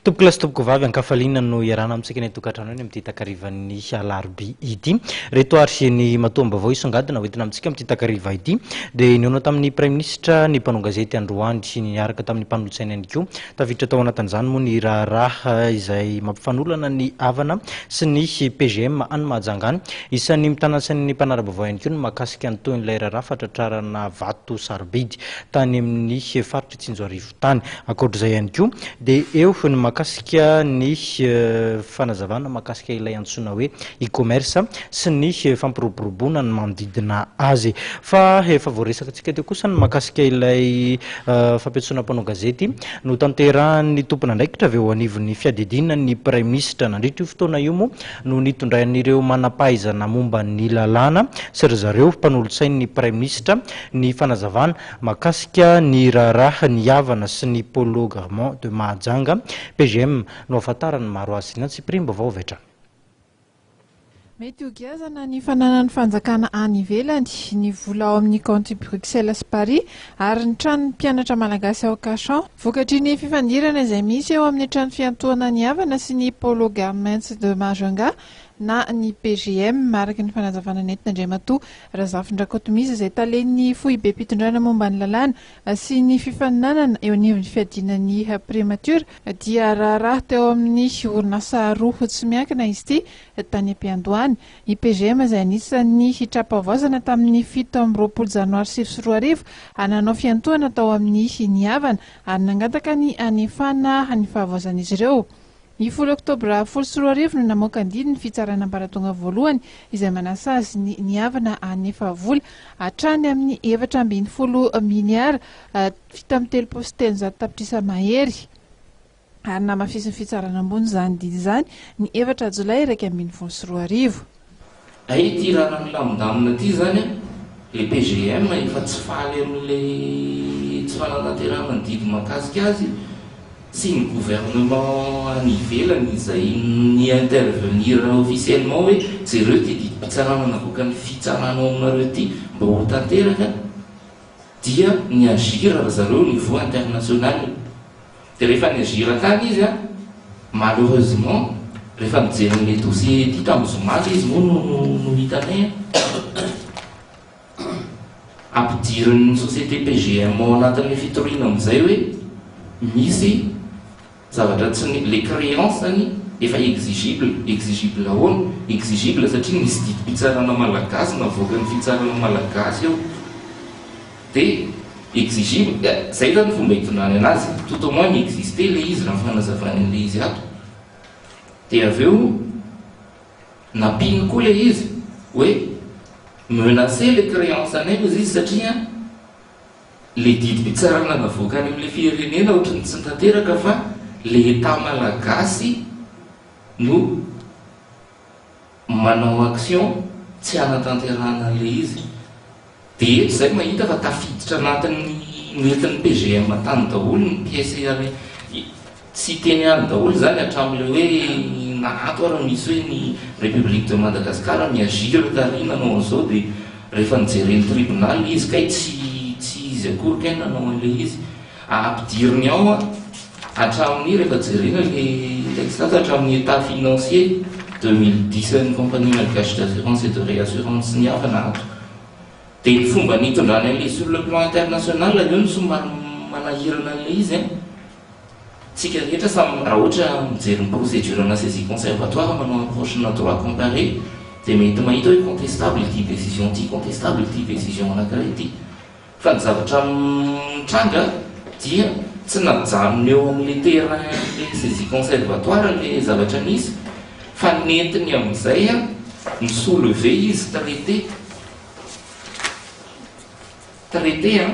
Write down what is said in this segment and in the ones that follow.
Tompokolahy sy tompokovavy ankafaliana no iarahana amintsika ny atokantrano eny amin'ity takarivan'ny alarobia ity. Reto ary ny matoam-baovao isongadina hoentina amintsika amin'ity takariva ity dia nihaona tamin'ny praiminisitra ny mpanao gazety androany niaraka tamin'ny mpanolotsaina ihany koa Tafiditra tao anatin'izany moa ny raharaha izay mampifanolana ny havana sy ny PGM any Mahajanga any. Isan'ny mitana ny sain'ny mpanara-baovao ihany koa ny mahakasika ny tohin'ilay raharaha fahatratrarana vato sarobidy tany amin'ny faritry Tsinjoarivo tany. Ankoatr'izay ihany koa dia eo ny mahakasika ny fanazavana mahakasika ilay antsoina hoe e-commerce sy ny fampiroboroboana ny manodidina azy. Fa efa voaresakitsika teo kosa ny mahakasika ilay fampiantsoana mpanao gazety notanterahin'ny tompon'andraikitra avy eo anivon'ny fiadidiana ny Praiminisitra. Nandritra io fotoana io moa no nitondrain'ireo manam-pahaizana momba ny lalàna sy ry zareo mpanolotsain'ny Praiminisitra ny fanazavana mahakasika ny raharaha nihavana sy ny Polo Garment de Mahajanga, PGM, no ahafantaran'ny maro azy. Ny antsipiriam-baovao avy hatrany. Mety ho giazana ny fananan'ny fanjakana any ivelany ny vola ao amin'ny kaonty Bruxelles sy Paris ary ny tranon'ny mpianatra malagasy ao Cachan. Vokatry ny fifandirana izay misy eo amin'ny trano fiantohana ny havana sy ny Polo Garments de Majunga na ny PGM, araka ny fanazavana nentin'Andriamatoa Razafindrakotomisa izay talen'ny foibem-pitondrana momba ny lalàna, sy ny fifaninanana eo anivon'ny fiadiana ny Primature dia raharaha teo amin'ny orinasa roa tsy miankina izy ity tany am-piandohany, ny PGM izay anisan'ny hitrapahavaozana tamin'ny fito amby roapolo janoary sivy sy roa arivo ary nanao fiantohana tao amin'ny ny havana ary nangataka ny hanefana ny fahavaozan'izy ireo. Ny folo oktobra folo sy roa arivo no namoaka ny didy ny Fitsarana Ambaratonga Voalohany izay manasazy ny niavana hanefa vola hatrany amin'ny efatra ambin'ny folo miliara fito amby telopolo sy telonjato tapitrisa mahery ary namafisin'ny Fitsarana Ambony izany didy izany ny efatra jolay iraika ambin'ny folo sy roa arivo. Hay ity raharaha milamindamina ity izany an! Le PGM efa tsy faly amin'ilay tsy fananaterahana ny didy mahakasika azy sy ny gouvernement any ivelany izay ni intervenir officiellement hoe jereo ity didim-pitsarana navoaka ny fitsarana ao aminareo ity mba ho tanteraka dia ni agir ry zareo au niveau international. Dia rehefa ni-rira tany izy an, malheureusement, rehefa nijery ny Medusa ety tamin'ny zoma dia izy moa no no hitanay an. Ampidirin'ny société PGM ao anatin'ny fitoriana amin'izay hoe misy zavatra tsy ny, les créances zany efa exigible, exigible ahoana? Exigible satria nisy didim-pitsarana malagasy navoakan'ny fitsarana malagasy eo. De exigible, ya, zay zany fomba itondrany anazy, tout au moins mi-exister le izy raha ny fanazavany an'le izy ato. De avy eo nampiany koa le izy hoe menacer le creance anay ozy izy satria le didim-pitsarana navoaka any am'le firenena ohatran'ny tsy tanteraka fa le Etat malagasy no Manao action tsy hanatanterahana an'ilay izy dia zay mahita fa tafiditra anatin'ny noentin'ny PGM tany daholo ny pièces iray tsy hiteny ihany daholo izany hatramin'ilay hoe na ato ary misy hoe ny République de Madagascar mi-agir tary nanao an'izao dia rehefa nijeren'ny tribunal izy kay tsy tsy izy akory kay nanao an'ilay izy. Ampidiriny ao an, hatramin'ny rehefa jerena ilay ilay tsy lasa hatramin'ny état financier deux mille dix an'ny compagnie malgache d'assurance et de réassurance ny havana ato. Dia ny fomba nitondrany an'ilay sur le plan international anie no somary manahirana an'ilay izy an. Tsika rehetra samy raha ohatra mijery ny procédure ana saisie conservatoire manao approche na droit comparé dia mety mahita hoe contestable ity décision ity, contestable ity décision anankiray ity. Fa ny zavatra mitranga dia tsy najanony eo amin'ilay terrain-ilay saisie conservatoire ilay zavatra nisy fa nentiny amin'izay mi-soulever izy traiter, traiter an!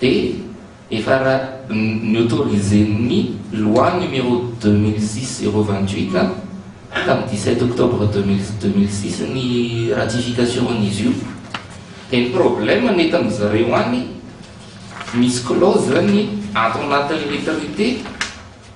Dia efa ni-autoriser-n'ny loi numéro deux mille six zéro vingt huit tamin'ny dix sept octobre deux mille deux mille six ny ratification-n'izy io. Dia ny problème nentin-dry zareo any, misy clause ny ato anatin'ilay traité,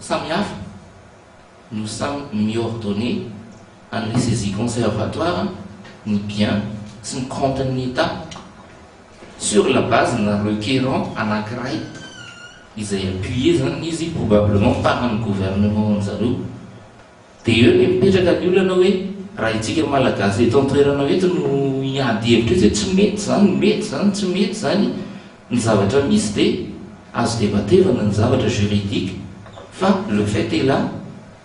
Samy hafa no samy mi-ordonner an'ny saisie conservatoire ny bien sy ny compte ny etat sur la base na requérant anankiray izay appuyer zany izy probablement par ny gouvernement anjareo. Dia eo ny mipetraka ny olana hoe raha itsika Malagasy eto an-toerana eto no hiady hevitra etsy hoe tsy mety izany, mety izany, tsy mety izany ny zavatra misy dia azo debatevana ny zavatra juridique fa le fait est là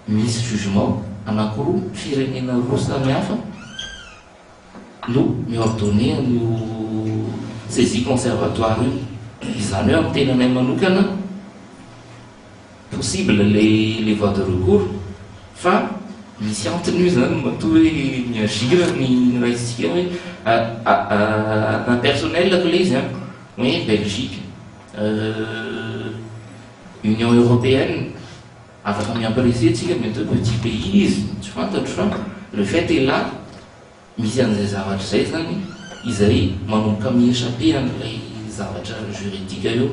misy jugement anakiroa, firenena roa samihafa. no mi-ordonner an'io saisie conservatoire io. Izany hoe amin'ny tenanay manokana, possible ilay voie de recours fa misy antony io izany matoa hoe mi-agir ny raisintsika hoe impersonnel-ko ilay izy an, hoe Belgique, Union Européenne. Afaka miampy rese tsika mety hoe petit pays izy tsy fantatro fa le fait est là misy an'izay zavatra izay zany izay manomboka mi echapper an'ilay zavatra juridique eo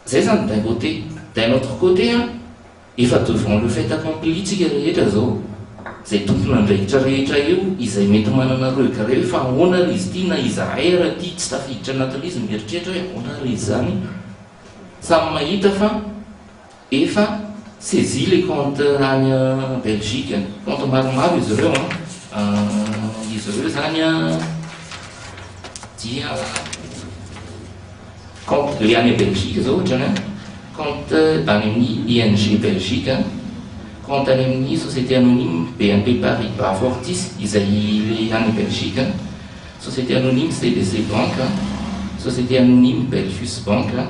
zay zany d'un côté d'un autre côté an efa devant le fait accompli tsika rehetra zao zay tompon'andraikitra rehetra eo izay mety manana regret hoe fa ahoana ary izy ty na izahay ary aty tsy tafiditra anatin'izy mieritreritra hoe ahoana ary izy zany samy mahita fa Efa saisie le compte any Belgique, compte maromaro izy ireo an, izy ireo zany an dia compte le any Belgique zao ohatrany an, compte any amin'ny ING Belgique an, compte any amin'ny société anonyme BNP Paribas Fortis izay le any Belgique an, société anonyme CBC Bank an, société anonyme Belfius Bank an.